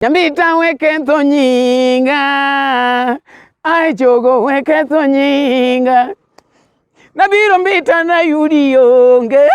Nyambita weketho nyinga, ai jogo weketho nyinga. Nabiro mbita nayudi onge,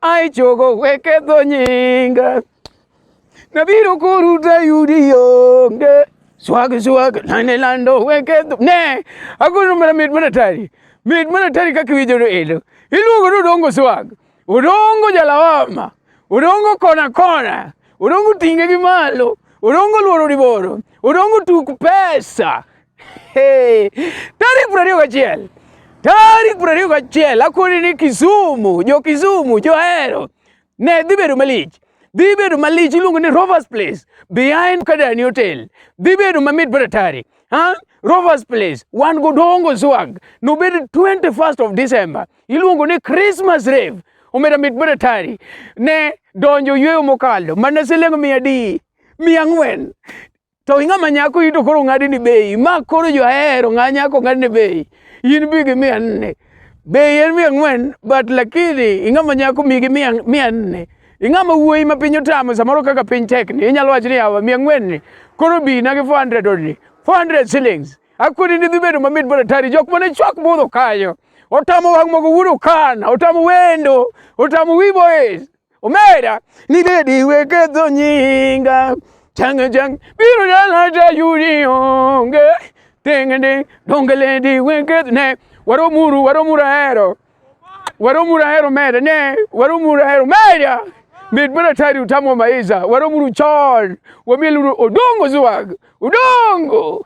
ai jogo weketho nyinga. Nabiro kuru tayudi onge, swag swag lande lando weketho ne akono mara mit mana tari mit mana tari kaka iwinjo no elo iluongo ni odongo swag Odongo jalawama, odongo kona kona, odongo tinge gi malo, odongo luoro liboro, odongo tuk pesa. Hey, tarik piero ariyo gachiel tarik piero ariyo gachiel akoni ni Kisumu, jo Kisumu, johero ne dhi bedo malich dhi bedo malich iluongo ni Rovers Place behind Kadani Hotel dhi bedo mamit baratari ha Rovers Place wan go dongo swag nobed 21st of December iluongo ni Christmas Rave. Omera mit baratari ne donjo yweyo mokalo mana siling' mia adi mia ang'wen to ing'ama nyako ito koro ng'adi ni bei ma koro johero ng'a nyako ng'adi ni bei in bi gi mia nne bei en mia ang'wen but lakini ing'ama nyako mi gi mia mia nne ing'ama wuoyi ma piny otamo samoro kaka piny tek ni inyalo wacho ni yawa mia ang'wen ni koro bi na gi 400 odni 400 shillings Akudi ni dhibedo mamit bwana tari jok mane chwak budho kanyo. Otamo wang' mogo wudo kana, otamo wendo, otamo wiboes. Omera ni lady weke dho nyinga. Chang chang biro dala ta yudi onge. Tengende donge lady weke ne waro muru waro muru ahero. Waro muru ahero mera ne waro muru ahero mera. Mit bwana tari utamo maiza waro muru chon. Wamiel odongo zuwag. Udongo.